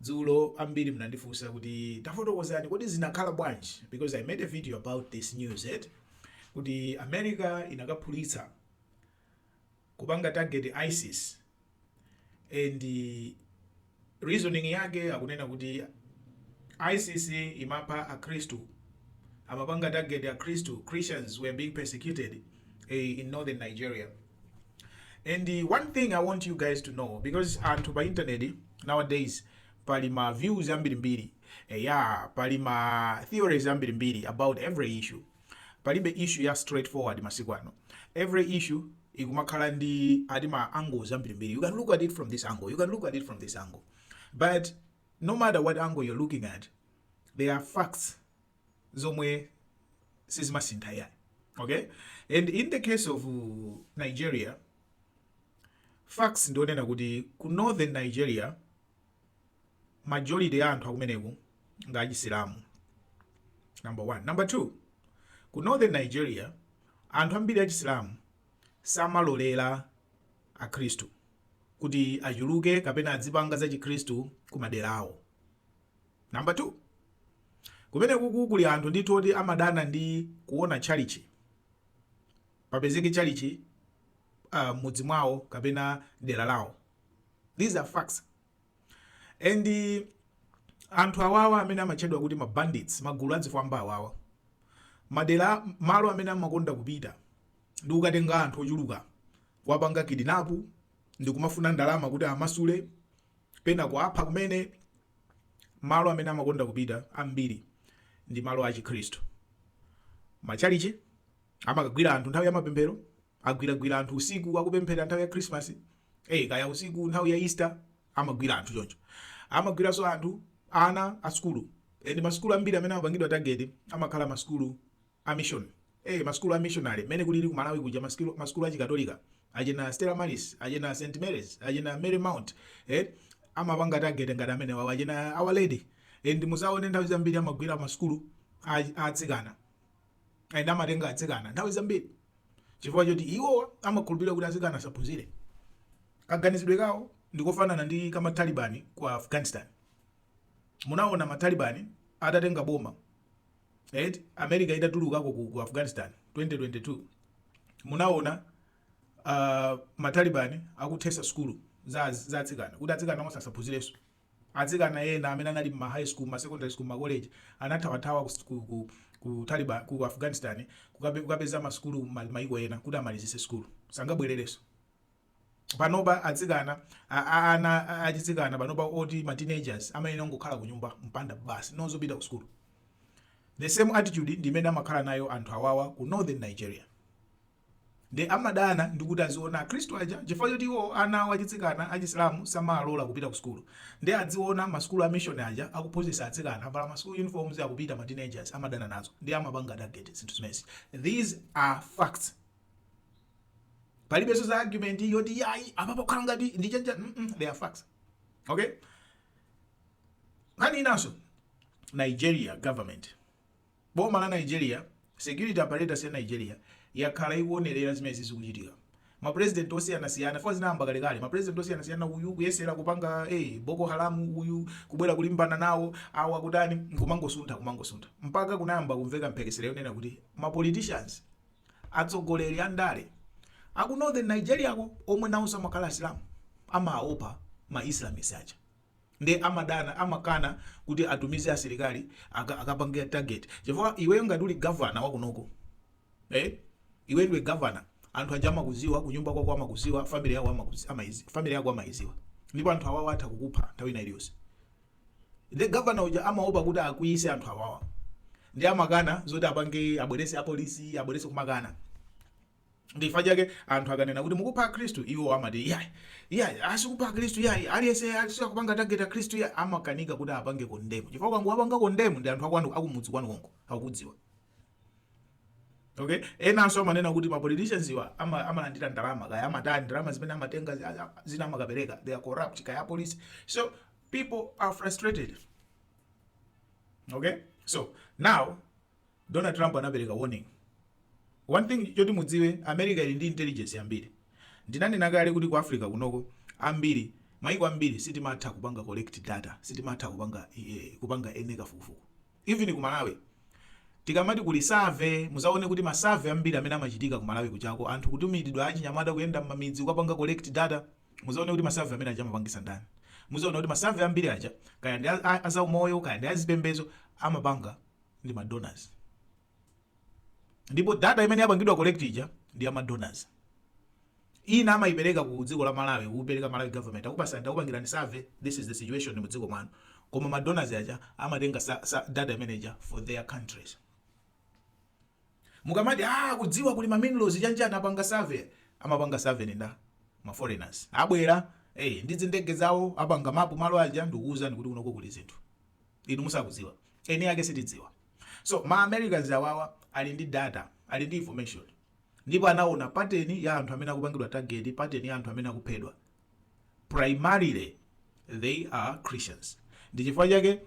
Dzulo ambiri munandifunsa kuti tafotokozani kodi zinakhala bwanji because I made a video about this news eti kuti America inakaphulitsa kupanga target ISIS and reasoning yake akunena kuti ISIS imapha akhristu amapanga target akhristu Christians were being persecuted eh, in northern Nigeria and one thing i want you guys to know because anthu pa internet nowadays pali ma views ambirimbiri eya pali ma theories ambirimbiri about every issue palibe issue ya straightforward masiku ano every issue ikumakhala ndi ati ma angles ambirimbiri you can look at it from this angle you can look at it from this angle but no matter what angle you're looking at there are facts zomwe sizimasintha iyayi okay and in the case of nigeria facts ndionena kuti ku northern nigeria majority ya anthu akumeneko nga achisilamu number one number two ku northern nigeria anthu ambiri achisilamu samalolera akhristu kuti achuluke kapena adzipanga za chikhristu ku madera awo Number two, kumenekuku kuli anthu ndithu oti amadana ndi kuona tchalitchi, papezeke tchalitchi uh, m'mudzi mwawo kapena dera lawo. These are facts. And uh, anthu awawa amene amatchedwa kuti ma bandits, magulu a zifwamba awawa, madera malo amene amakonda kupita ndi kukatenga anthu ochuluka kuwapanga kidinapu ndi kumafuna ndalama kuti amasule, pena kuwapha kumene. Malo amene amakonda kupita ambiri ndi malo achikhristu, matchalichi. Amakagwira anthu nthawi ya mapemphero, agwiragwira anthu usiku akupemphera nthawi ya Christmas, eh, kaya usiku nthawi ya Easter amagwira anthu choncho. Amagwiranso anthu ana a sukulu, and masukulu ambiri amene amapangidwa target amakhala masukulu a mission ee ma sukulu a missionary mmene kulili ku malawi kuja ma skill- ma sukulu a chikatolika achina stella maris achina st marys achina mary mount eh amapanga target ngati amenewo achina our lady eh, ndi muzaone nthawi zambiri amagwira ma sukulu a a atsikana and amatenga atsikana nthawi zambiri chifukwa choti iwo amakhulupirira kuti atsikana asaphunzire kaganizidwe kawo ndikofanana ndi kama talibani ku afghanistan munaona matalibani atatenga boma eti america itatulukako ku, ku afghanistan 2022 munaona uh, matalibani akuthesa sukulu za, za atsikana kuti atsikana onse asaphunzirenso atsikana ena amene anali mma high school ma secondary school ma college anathawathawa ku, ku, ku, ku, Taliban, ku afghanistan kukabe- kukapeza masukulu m'maiko ena kuti amalizise sukulu sangabwererenso panopa atsikana a- a- ana a- achitsikana panopa oti ma teenagers amayenera kungokhala kunyumba mumpanda basi osapita ku sukulu the same attitude ndi imene amakhala nayo anthu awawa ku northern nigeria ndi amadana ndikuti aziona akhristu aja chifukwa choti iwo ana awo achitsikana achisilamu samalola kupita ku sukulu ndi adziona masukulu a mission aja akuphunzitsa atsikana avala ma school uniforms akupita ma teenagers amadana nazo ndi amapanga target zinthu zimezi these are facts palibenso za argument yoti yayi apa pokhala ngati ndi chanchani mm -mm, they are facts okay nkhani inanso nigeria government boma la nigeria security apparatus ya nigeria yakhala ikuonerera zimene zikuchitika mapresident osiyanasiyana fo zinayamba kalekale mapresident osiyanasiyana uyu kuyesera kupanga hey, eh, boko haramu uyu kubwera kulimbana nawo awa kutani kumangosuntha kumangosuntha mpaka kunayamba kumveka mphekesera yonena kuti mapoliticians Atsogoleri a ndale a ku Northern Nigeria ko omwe nawonso amakhala Asilamu, amaopa ma Islamist aja nde amadana, amakana kuti atumize asilikali aka, akapange target chifukwa iweyo ngati uli governor wa kunoko eh, iwe ndiwe governor anthu aja amakuziwa kunyumba kwako amakuziwa family yako amakuzi, amaizi, family yako amaiziwa ndipo anthu awawa atha kukupha nthawi ina iliyonse. Ndiye governor uja amaopa kuti akwiyise anthu awawa. Ndiye amakana zoti apange abwerese apolisi, abwerese kumakana. Ndi chifukwa chake anthu akanena kuti mukupha Akhristu iwo amati iyayi. Iyayi, asikupha Akhristu iyayi. Aliyense sakupanga target Akhristu iyayi. Amakanika kuti apange condemn. Chifukwa ukangowapanga condemn ndi anthu akwanu akumudzi kwanu konko akukudziwa. Okay? Enanso amanena kuti ma politicians wa ama, amalandira ndalama kaya amatani ndalama zimene amatenga zina amakapereka. They are corrupt kaya apolisi. So people are frustrated okay so now donald trump anapereka warning one thing choti mudziwe america ili ndi intelligence yambiri ndinanena kale kuti ku africa kunoko ambiri maiko ambiri sitimatha kupanga collect data sitimatha kupanga eh, kupanga ene kafukufuku even ku malawi tikamati kuli survey muzaone kuti masurvey ambiri amene amachitika ku malawi kuchako anthu kutumidwa achinyamata kuyenda mmamidzi kukapanga collect data Mudzaona kuti ma survey amene aja amapangisa ndani. Mudzaona kuti ma survey ambiri aja kaya ndi a zaumoyo kaya ndi a zipembezo amapanga ndi ma donors. Ndipo data imene yapangidwa collect ija ndi ya ma donors. Ina amaipereka ku dziko la Malawi, kupereka Malawi government akupasa ndakupangirani survey, this is the situation mu dziko mwanu. Koma ma donors aja amatenga data imene ija for their countries. Mukamati aah kuMalawi kuli ma minerals chanchani apanga survey amapanga survey ndi nda? Ma foreigners abwera ee ndi zindege zawo apanga map malo aja ndikuuzani kuti kunoko kuli zinthu inu musakudziwa eni ake sitidziwa so ma Americans awawa ali ndi data ali ndi information ndipo anaona pattern ya anthu amene akupangidwa target pattern ya anthu amene akuphedwa primarily they are christians ndichifukwa chake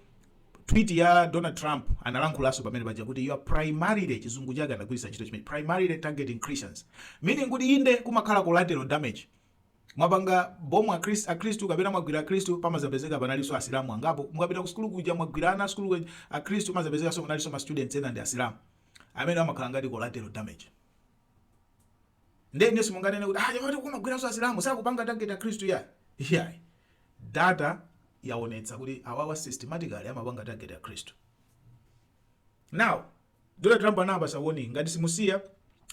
tweet ya donald trump analankhulaso pamene paja kuti you are primarily chizungu chake anagwiritsa ntchito chimene primarily targeting christians meaning kuti inde kumakhala collateral damage mwapanga bomu akristu akristu kapena mwagwira akristu pamazapezeka panalinso asilamu angapo mukapita ku sukulu kuja mwagwira ana asukulu kuja akristu pamazapezekaso kunalinso ma students ena ndi asilamu amene amakhala ngati collateral damage Ndiye inu simunganene kuti ah, chifukwa kumagwiranso Asilamu sakupanga target a Khristu ya. Yeah. Data yaonetsa kuti awawa systematically amapanga target a Khristu. Now, Donald Trump anapasa warning ngati simusiya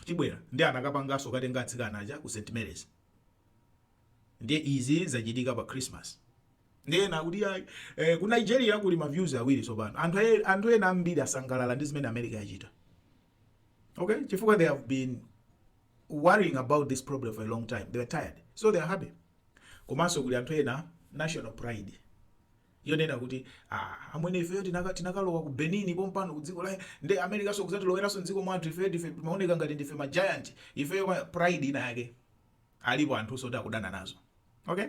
tibwera ndi anakapanganso kutenga atsikana aja ku St Mary's. Ndiye izi zachitika pa Christmas. Ndiye na kuti ya, eh, ku Nigeria kuli ma views awiri tsopano. Anthu ena ambiri asangalala ndi zimene America yachita. okay chifukwa they have been worrying about this problem for a long time they are tired so they are happy komanso kuli anthu ena national pride yonena kuti ah, amwene ifeyo tinaka- tinakalowa ku benin pompano ku dziko la nde Americanso kuzatiloweranso mdziko mwathu ifeyo ndife timaoneka ngati ndife ma giant ifeyo pride ina yake alipo anthu oti akudana nazo okay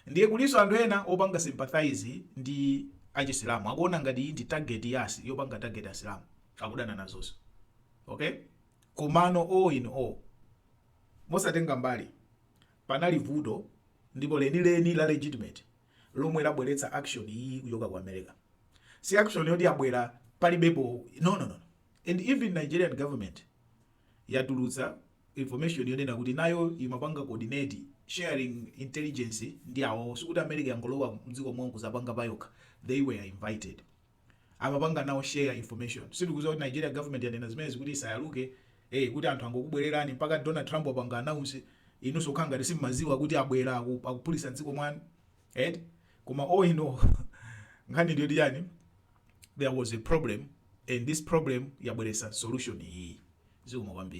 Ndiye kulinso anthu ena opanga sympathize ndi a chisilamu akuona ngati iyi ndi target ya yopanga target asilamu akudana nazonso okay komano all in all mosatenga mbali panali vuto ndipo lenileni la legitimate lomwe labweretsa action iyi kuchoka ku america si action yoti yabwera palibepo no no no and even nigerian government yatulutsa information yonena kuti nayo imapanga coordinate, sharing intelligence ndi awo, sikuti America yangolowa mdziko mwawo nkuzapanga payokha, they were invited, amapanga nawo share information, sitikuziwa kuti Nigeria government yanena zimenezi kuti isayaluke ee kuti anthu angokubwelerani mpaka Donald Trump wapanga announce inunso kukhala ngati simmaziwa kuti abwela akuphulisa mdziko mwanu eti koma all in all nkhani ndiyoti chani there was a problem and this problem yabweresa solution iyi zikomo kwambiri